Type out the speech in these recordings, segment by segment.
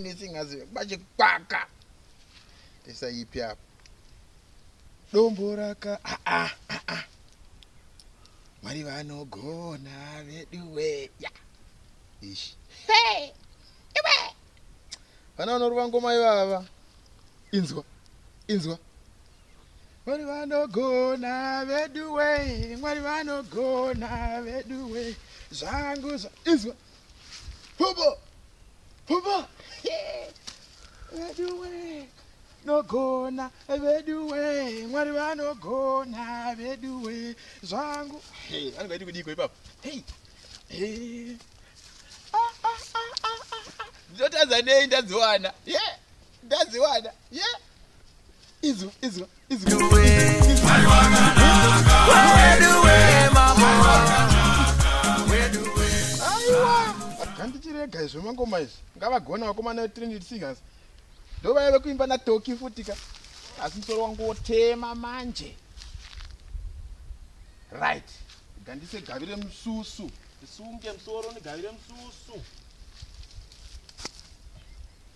nesingazive pachikwaka ndisaipi apa dombo raka aa ah, ah, ah, mwari vanogona veduwe ya ishi iwe vana vanorova ngoma ivava inzwa inzwa mwari vanogona veduwe mwari vanogona veduwe zvangu zva inzwa Hubo! Hubo! Veduwe! Nogona veduwe! Mwari vanogona veduwe! Zvangu! Hey, vanenge vaiti kudiko ipapo? Hey! Hey! Ah, ah, ah, ah, ah, ah. Ndotadza nei ndadziwana? Yeah! Ndadziwana! Yeah! izwa izwa izwa handichirega izvo mangoma izvi ngavagona vakomana vetrinity singers ndovaya vekuimba natoki futika asi musoro wangu wotema manje right gandise gavire mususu ndisunge musoro ndigavire mususu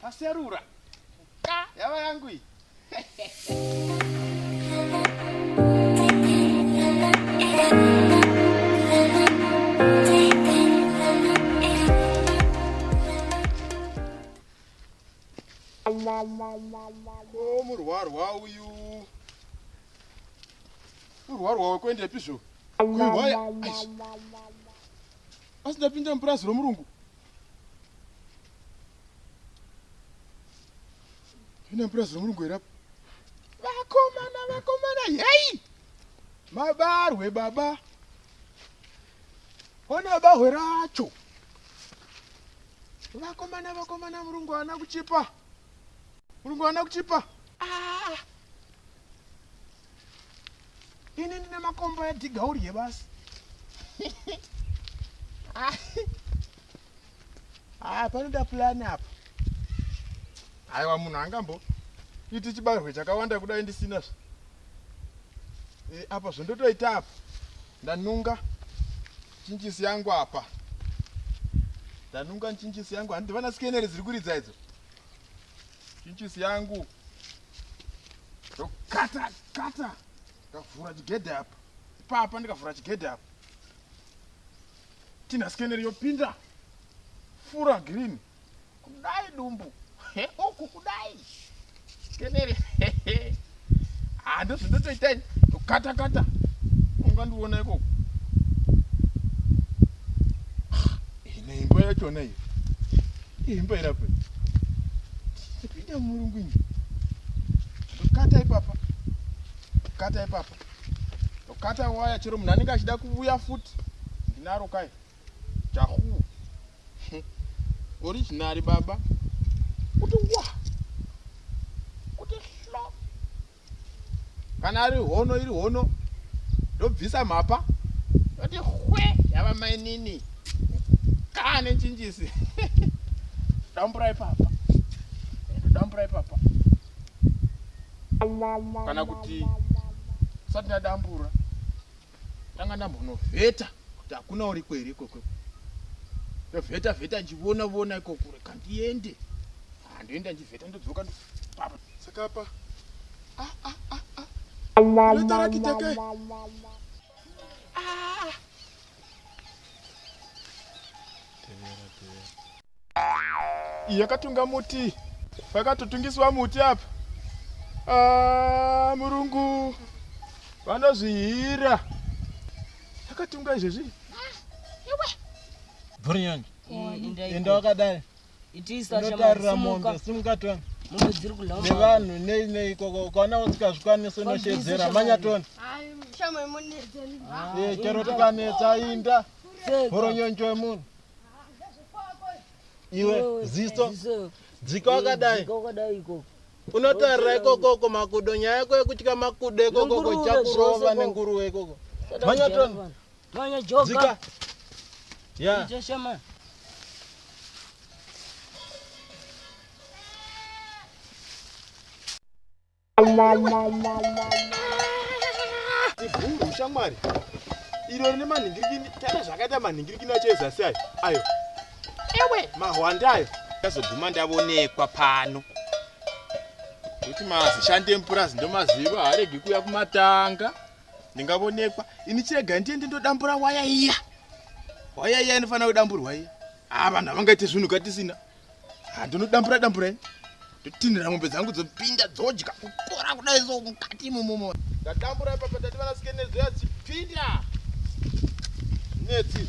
Paserura. Ka yava yangu iyi. Oh, murwarwa uyu urwarwa wekuendepi zvo kuhwaya asi ndapinda mupurazi romurungu pinda mupurazi romurungu here apo vakomana vakomana yei mabarwe baba ona bahwe racho vakomana vakomana murungu ana kuchipa murungu ana kuchipa ah. ini ndine makomba edhiga urye basi haa panoda pulani apa aiwa munhu angambo iti chibarwe chakawanda kudai ndisina zve e, apa zvondotoita apa ndanunga chinjisi yangu apa ndanunga nchinjisi yangu handi vana skenere dziri kuridza idzo Pinchisi yangu ndokata kata ndikavhura chigedhe apa ipapa ndikavhura chigedhe apa tina scanner yopinda fura green kudai dumbu he uku kudai scanner haa ah, ndozvindotoita ini tokata kata ungandiona ikoko ah, ine imba yachona iyo imba irapo ipinda murungu ini ndokata ipapa ndokata ipapa ndokata waya chero munhu anenge achida kuvuya futi ndinaro kai chahuu Original baba. Kuti wa. Kuti hlo. Kana ari hono iri hono. Ndobvisa mhapa. Kuti hwe yava mainini. Kane chinjisi. Damburai papa. Damburai papa. Kana kuti usati ndadambura. ndanga ndambonovheta kuti hakuna uriko here ikoko ndovheta vheta ndichivona vona ikoko reka ndiende handoenda ndivheta ndodzoka papa saka apa ah, ah, ah, ah. ndotarakiteke iyi yakatunga muti pakatotungiswa muti apa ah, murungu vanozvihira yakatunga izvezvi burioni enda wakadai inotarira mombe simukatoni nevanhu nei nei ikoko ukaona usikazvikwanisi unoshedzera manyatoni chero tikanetsa inda Horonyonjo yemunhu. Iwe ziso dzika wakadai. Unotarira ikoko uko makudo nyaya yako yekutya makudo ikoko uko chakurova nenguruwe ikoko. Manya ton. Manya joka. Dzika. Ya. Yeah. Ivhuru shamwari iro rine manhingirikini tana zvakaita manhingirikini acho ezasi ayo ayo ewe mahwanda ayo ndazoguma ndavonekwa pano kuti mazishandi emupurazi ndomaziva haaregi kuya kumatanga ndingavonekwa ini chirega ndiende ndodambura waya iya waya iya inofanira kudamburwa iya haa ah, vanhu havangaite zvinhu katisina handinodambura dambura ini ndotinhira mombe dzangu dzopinda dzodya kukora kudai so mukati imomomo ndadambura ipapa ndati vanasike nedzo yadzipinda netsi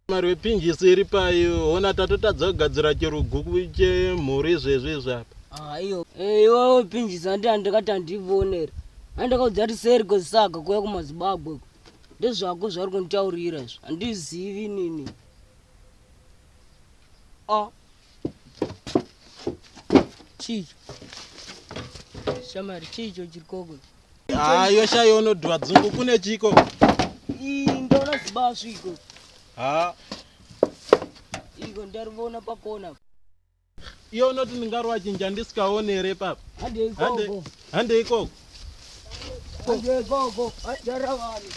mari wepinjisi iri payo hona tatotadza kugadzira chiruguku chemhuri izvezvi izvi apa ah, iyo eh, iwawo pinjisi andi andikati andivonera andakaudza kuti seriko zisaga kuya kumazibagwe Ndezvako zvauri kunditaurira izvo handizivi nini. Oh. Chii? Shamari chii icho chiri koko? Ah, yosha yono dwa dzungu kune chiko. Ii ndona zibaswi iko. Ha. Iko ndarivona pakona. Iye unoti ndingarova chinja ndisikaone here papa? Handei ikoko. Handei ikoko. Handei ikoko. Handara vanhu.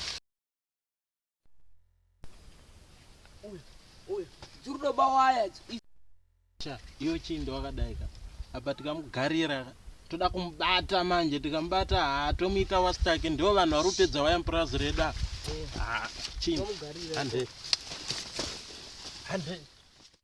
Uya, uya. Dzurdo bawaya. Cha, iyo chindo wakadai ka. Apa tikamugarira ka. Toda kumubata manje, tikamubata haa tomuita wastake ndiwo vanhu vari kupedza waya mupurazi redu apa. Eh. Haa, ah, chindo. Handei. Handei.